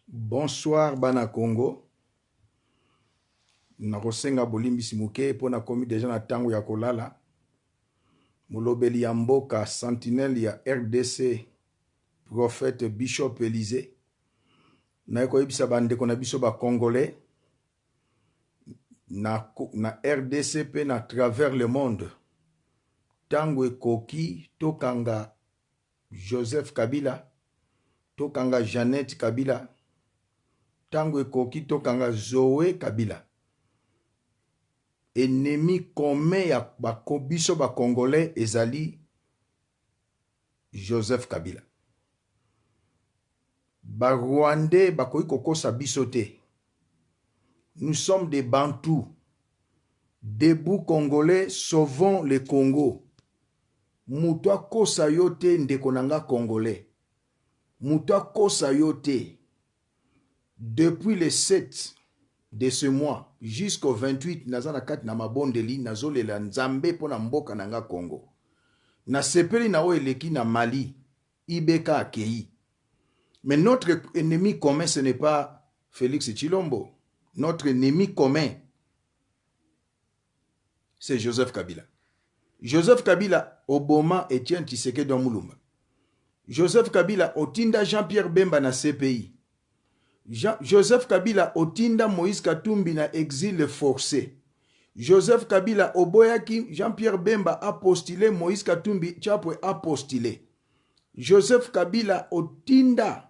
Bonsoir bana Congo nakosenga bolimbisi moke mpo nakomi deja na tango ya kolala molobeli ya mboka sentinelle ya rdc prophète bishop Elysee naye koyebisa ba ndeko na biso ba congolais na, na rdc mpe na travers le monde tango ekoki tokanga Joseph kabila tokanga Jeannette kabila tango ekoki tokanga Zoe kabila enemi commun ya ba biso ba congolais ezali Joseph kabila ba rwandais bakoki kokosa biso te nous sommes des bantous debout congolais sauvons le congo Mutu akosa yo te ndeko na nga congolais mutu akosa yo te depuis le sept de ce mois jusqu'au 28 naza na kati na mabondeli nazo lela nzambe pona mboka na nga congo na sepeli na oyo eleki na mali IBK akeyi mais notre ennemi commun ce n'est pas Felix Tshilombo notre ennemi commun c'est Joseph Kabila. Joseph Kabila oboma Etienne Tshisekedi wa Mulumba. Joseph Kabila otinda Jean-Pierre Bemba na CPI. Jean, Joseph Kabila otinda Moïse Katumbi na exil forcé. Joseph Kabila oboyaki Jean-Pierre Bemba a postuler Moïse Katumbi Chapwe a postuler. Joseph Kabila otinda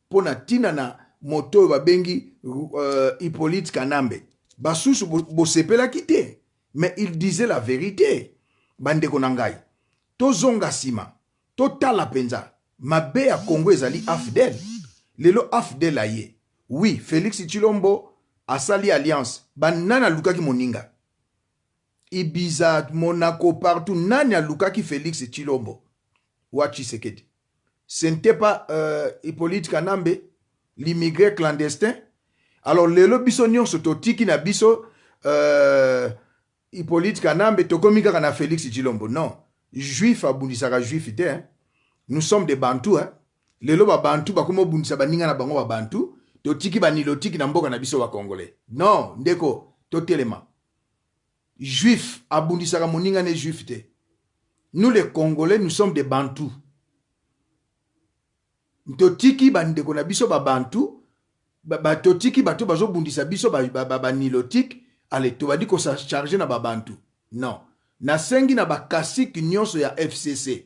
mpo na ntina na moto oyo babengi Hyppolite Kanambe. Basusu bosepelaki te mais il disait la verite. Bandeko na ngai, tozonga sima, totala penza mabe ya Congo ezali afdl. Lelo afdl aye, oui Felix Tshilombo asali alliance, ba nani alukaki moninga? Ibiza, Monaco, partout nani alukaki Felix Tshilombo? Wa Tshisekedi. ce n'etait pas euh, Hippolyte Kanambe l'immigré clandestin alors lelo biso nyonso totiki na biso euh, Hippolyte Kanambe tokomi kaka na Felix Tshilombo non juif abundisaka juif te hein? nous sommes des bantous hein? lelo babantu bakomi obundisa baninga na bango babantu totiki banilotiki na mboka na biso bakongole non ndeko totelema Juif abundisaka moninga ne juif te nous les congolais nous sommes des bantous totiki bandeko na biso ba bantous ba totiki bato bazobundisa biso ba, ba, ba, ba nilotique ale tobandi kosacharge na babantu non nasengi na bakasike nyonso ya fcc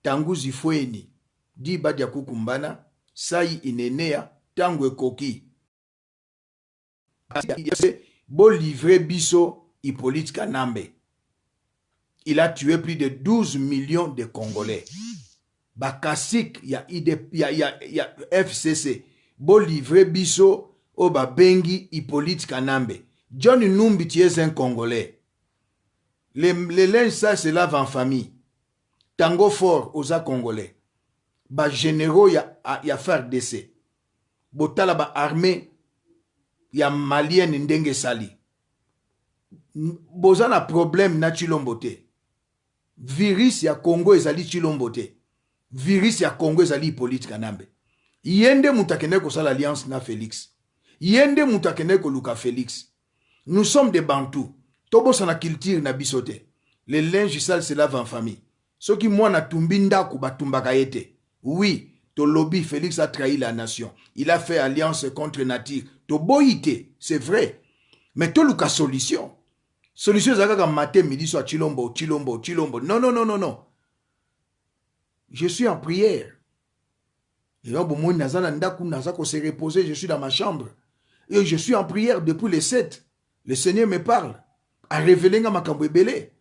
tanguzi fweni diba dia kukumbana sai inenea ntango ekoki Bo livrer biso Hypolite Kanambe il a tue plus de 12 millions de congolais ba kasik ya, ya, ya, ya FCC bo livrer biso oyo babengi Hypolite Kanambe. John Numbi tu es un congolais le, le linge sale se lave en famille tango fort oza congolais ba generaux ya, ya FARDC botala ba armee ya malienne ndenge esali boza na problème na tshilombo te virus ya congo ezali tshilombo te virus ya congo ezali hypolite kanambe ye nde moto akendaki kosala alliance na felix ye nde moto akendaki koluka felix nous sommes des bantou tobosana culture na biso te le linge sale se lave en famille soki mwana atumbi ndaku batumbaka ye te oui tolobi Felix a trahi la nation il a fait alliance contre nature toboyi te c'est vrai mais toluka solution solution eza kaka matin midi soir tshilombo tshilombo tshilombo non non non non non je suis en prière Lelo bomoni naza na ndaku naza ko se reposer je suis dans ma chambre et je suis en prière depuis le 7 le Seigneur me parle a révéler nga makambo ebele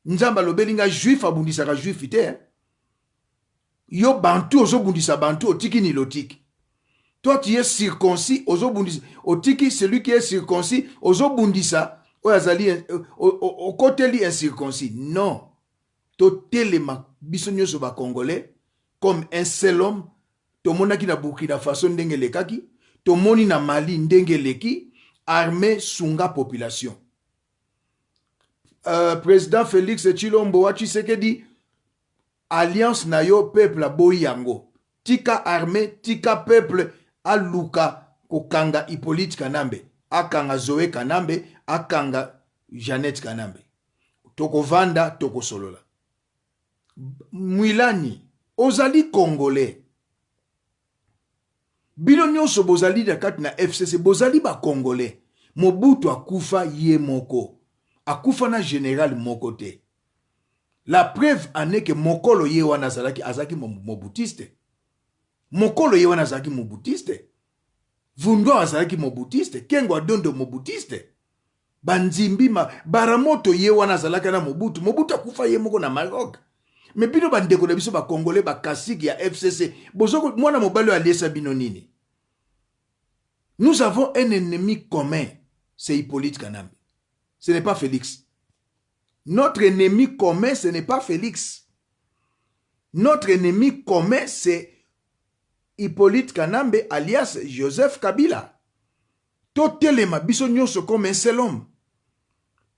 Nzambe alobeli nga juif abundisaka juif te hein? yo bantu ozobundisa bantu otiki nilotique toi tu es circoncis ozobundisa otiki celui qui est circoncis ozobundisa oyo azali okoteli incirconcis non totelema biso nyonso bacongolais comme un seul homme tomonaki na Burkina Faso ndenge elekaki tomoni na Mali ndenge eleki armee sunga population euh, president Felix Tshilombo wa Tshisekedi alliance na yo peuple aboyi yango tika armée tika peuple aluka kokanga Hippolyte Kanambe akanga Zoe Kanambe akanga Jeannette Kanambe tokovanda tokosolola Mwilani ozali congolais bino nionso bozali na kati na FCC bozali ba congolais Mobutu akufa ye moko akufa na general moko te la preuve en est que mokolo ye wana azalaki azalaki mobutiste mokolo ye wana azalaki mobutiste Vundwa azalaki mobutiste Kengo Adondo mobutiste Bandimbi ma baramoto ye wana azalaka na mobutu mobutu akufa ye moko na maroc me bino bandeko na biso bacongolais bakasike ya fcc bozo mwana mobali oyo aliesa bino nini nous avons un ennemi commun c'est hippolyte kanambe ce n'est pas félix notre ennemi commun ce n'est pas félix notre ennemi commun c'est hippolyte kanambe alias joseph kabila Totelema biso nionso comme un seul homme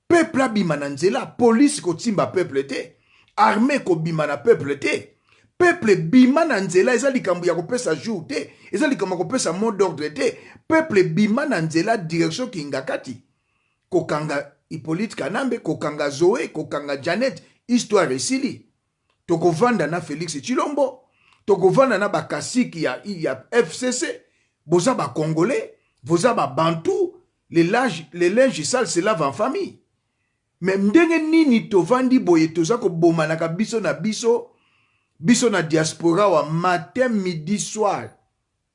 peuple abima na nzela police kotimba peuple te armee kobima na peuple te peuple bima na nzela eza likambo ya kopesa jour te eza likambo ya kopesa mot d'ordre te peuple bima na nzela direction kingakati kokanga Hippolyte Kanambe kokanga Zoe kokanga Janet histoire esili toko vanda na Felix Tshilombo toko vanda na ba kasiki ya, ya FCC boza ba congolais boza ba bantu les linges les linges sales se lavent en famille mais ndenge nini tovandi boye toza kobomanaka biso na biso biso na diaspora wa matin midi soir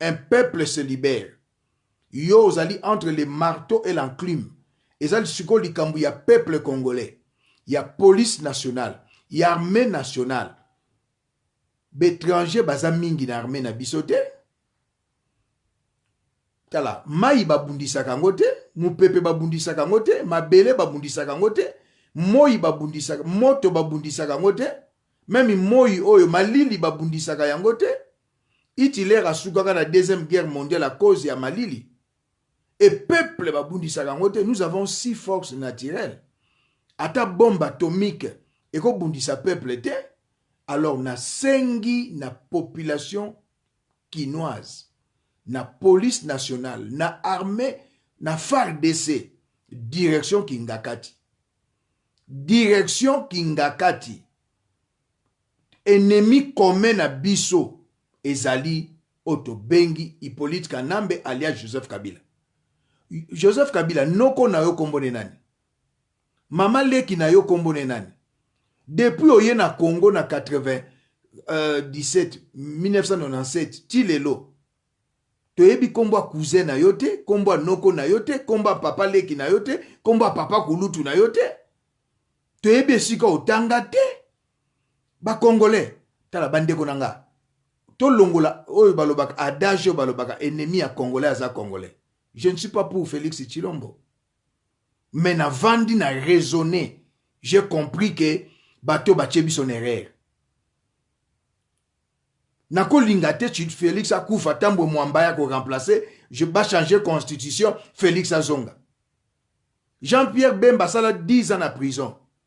Un peuple se libere yo ozali entre le marteau et l'enclume eza sikoyo likambo ya peuple congolais ya police nationale ya armee nationale b'etrangers baza mingi na armee na biso te tala mayi babundisaka yango te mopepe babundisaka yango te mabele babundisaka yango te moi babundisaka moto babundisaka yango te meme moi oyo malili babundisaka yango te Hitler asukaka na deuxième guerre mondiale à cause ya malili et peuple ba bundisaka yango te nous avons si force naturelle ata bombe atomique eko bundisa peuple te alors na sengi na population kinoise na police nationale na armée na FARDC direction kingakati direction kingakati Ennemi commun na biso ezali oyo tobengi Hyppolite Kanambe alias Joseph Kabila. Joseph Kabila, noko na yo kombo ne nani? Mama leki na yo kombo ne nani? Depuis oye na Congo na 80 euh, 17 1997 ti lelo toyebi kombo ya cousin na yo te, kombo ya noko na yo te, kombo ya papa leki na yo te, kombo ya papa kulutu na yo te. Toyebi esika otanga te. Ba congolais tala ba ndeko na nga to longola oyo balobaka adage oyo balobaka ennemi ya congolais aza congolais je ne suis pas pour Felix Tshilombo mais na vandi na raisonner j'ai compris que bato batie biso na erreur nakolinga te Felix akufa tambwe mwamba ya ko remplacer je ba changer constitution Felix azonga Jean-Pierre Bemba asala 10 ans na prison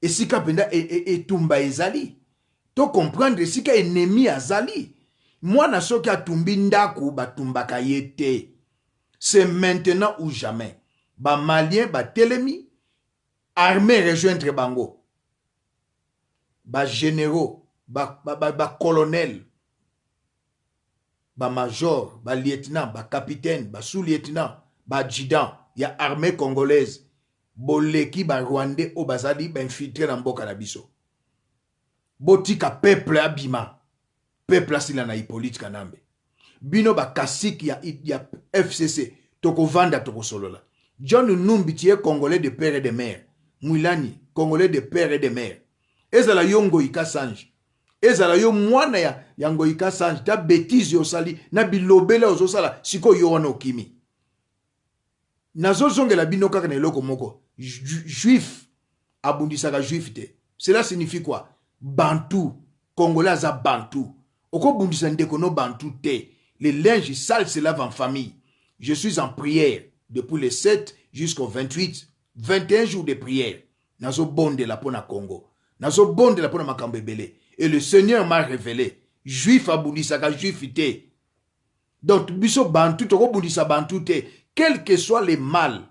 Esika penza etumba ezali to comprendre esika enemi azali. Mwana soki atumbi ndaku ba tumbaka ye te. C'est maintenant ou jamais. Ba maliens ba telemi, armee rejoindre bango. Ba generaux, ba colonels, ba major, ba lieutenant, ba capitaine, ba sous lieutenant, ba adjudant ya armee congolaise boleki ba rwandais oyo bazali ba infiltre na mboka na biso. Botika peuple abima. Peuple asila na Hyppolite Kanambe. Bino ba kasik ya, ya FCC tokovanda tokosolola. John Numbi tu es congolais de père et de mère. Mwilani congolais de père et de mère. Ezala yo Ngoyi Kasanji Ezala yo mwana ya ya ngoyi kasange ta betise yo osali na bilobela ozo sala siko yo wana okimi nazo zongela bino kaka na eloko moko juif abundisaka juif te cela signifie quoi bantu congolais aza bantu okobundisa ndeko no bantu te le linge sale se lave en famille je suis en prière depuis le 7 jusqu'au 28 21 jours de prière Nazo bondela pona Congo nazo bondela pona makambo ebele et le seigneur m'a revele juif abundisaka juif te donc biso bantu toko bundisa bantu te quel que soit le mal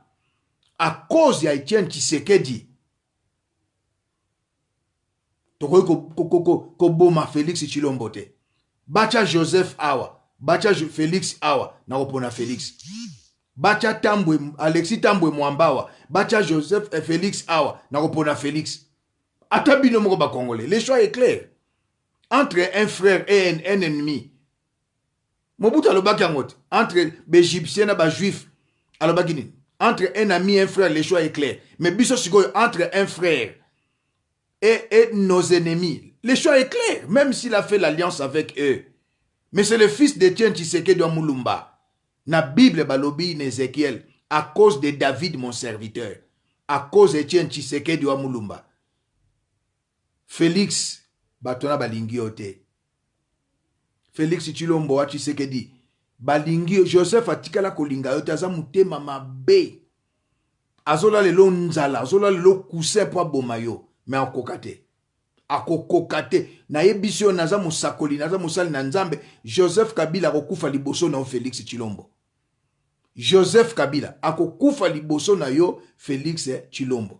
à cause ya Etienne Tshisekedi tokoki koboma ko, ko, ko, ko felix tshilombo te batya joseph awa batya felix awa na kopona felix batya tambwe alexi tambwe mwamba awa batya joseph eh, felix awa na kopona felix ata bino moko bakongole le choix est clair entre un frère et un ennemi mobutu alobaki yango te entre baegyptien na bajuif alobaki nini entre un ami un frère le choix est clair mais biso sikoyo entre un frère et, et nos ennemis le choix est clair même s'il a fait l'alliance avec eux mais c'est le fils de tien tshisekedi wa mulumba na bible balobi na ezekiel à cause de david mon serviteur à cause de tien tshisekedi wa mulumba félix bato na balingi yo te Felix tshilombo wa tshisekedi balingi yo joseph atikala kolinga yo te aza motema mabe azola lelo nzala azola lelo kusin mpo aboma yo me akoka te akokoka te nayebisi yo naza mosakoli naza mosali na nzambe joseph kabila akokufa liboso na yo felix tshilombo joseph kabila akokufa liboso na yo felix tshilombo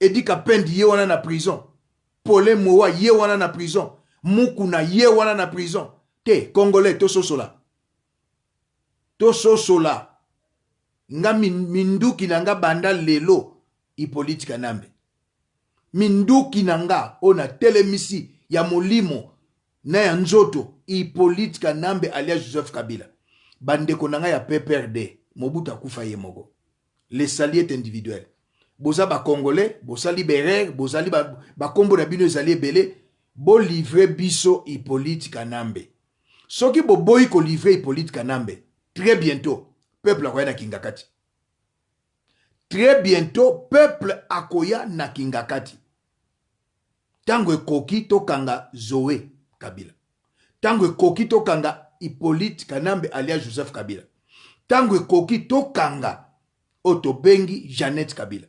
Eddy kapend ye wana na prison Paulin mowa ye wana na prison Mukuna ye wana na prison te congolais tososola tososola nga minduki na nga banda lelo Hyppolite Kanambe minduki na nga oyo na telemisi ya molimo na ya nzoto Hyppolite Kanambe alias Joseph Kabila bandeko na nga ya PPRD Mobutu akufa ye moko le salut est individuel boza ba congolais bosali berere bozali bakombo ba na bino ezali ebele bolivre biso hippolyte kanambe soki boboyi kolivre hippolyte kanambe très bientôt peuple akoya na kingakati très bientôt peuple akoya na kingakati Tango ekoki tokanga Zoe kabila tango ekoki tokanga Hypolite kanambe alias Joseph kabila tango ekoki tokanga oyo tobengi Jeannette kabila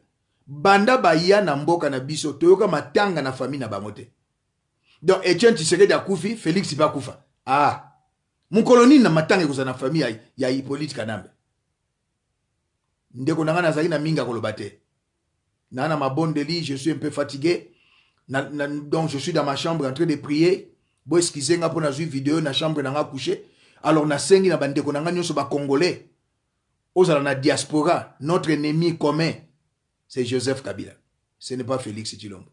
banda baya na mboka na biso toyoka matanga na famille na bango te donc Etienne Tshisekedi akufi Felix pe akufa ah mokolo nini na matanga ekozala na famille ya, ya Hypolite kanambe ndeko na ngai nazali na mingi ya koloba te na na mabondeli je suis un peu fatigué na, na, donc je suis dans ma chambre en train de prier bo excuse nga mpo nazwi video na chambre na nga couche alors nasengi na bandeko na nga nyonso bacongolais ozala na diaspora notre ennemi commun c'est joseph kabila ce n'est pas félix tshilombo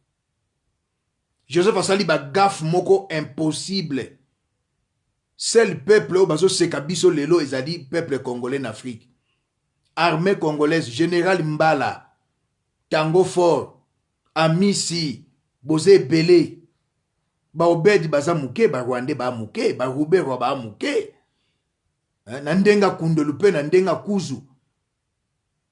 Joseph asali ba gaffe moko impossible seul peuple oyo bazo seka biso lelo ezali peuple congolais n'afrique armee congolaise general mbala tango fort amisi boza ebele ba obed baza muke ba rwandais ba muke ba ruberwa ba muke na ndenge akundelu pe na ndenge akuzu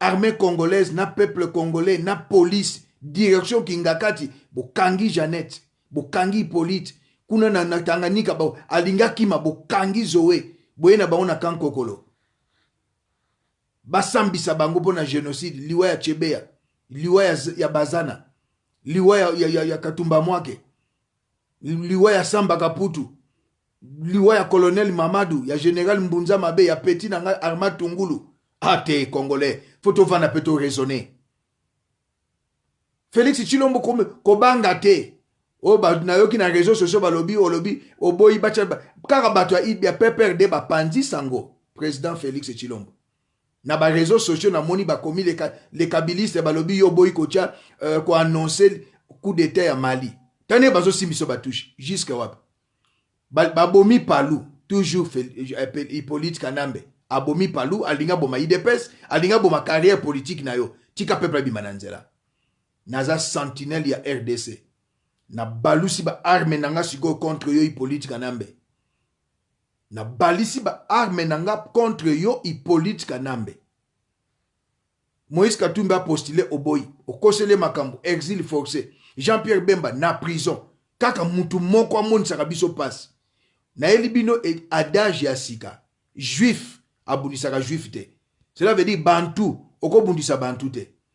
armee congolaise na peuple congolais na police direction kingakati bokangi janete bokangi hypolite kuna na, na tanganyika ba, alingi akima bokangi zoe boye na bango na kankokolo basambisa bango mpo na genocide liwa ya chebeya liwa ya, ya bazana liwa ya, ya, ya, ya katumba mwake liwa ya Samba Kaputu, liwa ya Colonel Mamadou, ya General Mbunza Mabe, ya petit na ngai Armand Tungulu. Ah te Congolais, faut tovanda pe to raisonner. Felix Tshilombo kobanga te. Oyo oh, nayoki na réseaux sociaux balobi olobi oboyi batya kaka bato ya PPRD bapanzi sango président Felix Tshilombo. Na ba reseaux sociaux na moni ba komi les kabilistes ba lobi yo oboyi ko tia ko annoncer coup d'etat ya Mali. Tala ndenge bazo simba biso ba touches jusque wapi? Ba bomi Palu toujours Hypolite Kanambe a bomi Palu a lingi a boma udps a lingi a boma carrière politique na yo tika peuple a bima na nzela. Naza sentinelle ya rdc na balusi ba armes na nga sikoyo contre yo Hypolite Kanambe. Na balisi ba armes na nga contre yo hypolite kanambe moise katumbi a postule oboyi okoseli ye makambu exile force jean pierre bemba na prison kaka mutu moko amonisaka biso pasi nayeli bino adage ya sika juif abundisaka juif te cela veut dire bantou okobundisa bantou te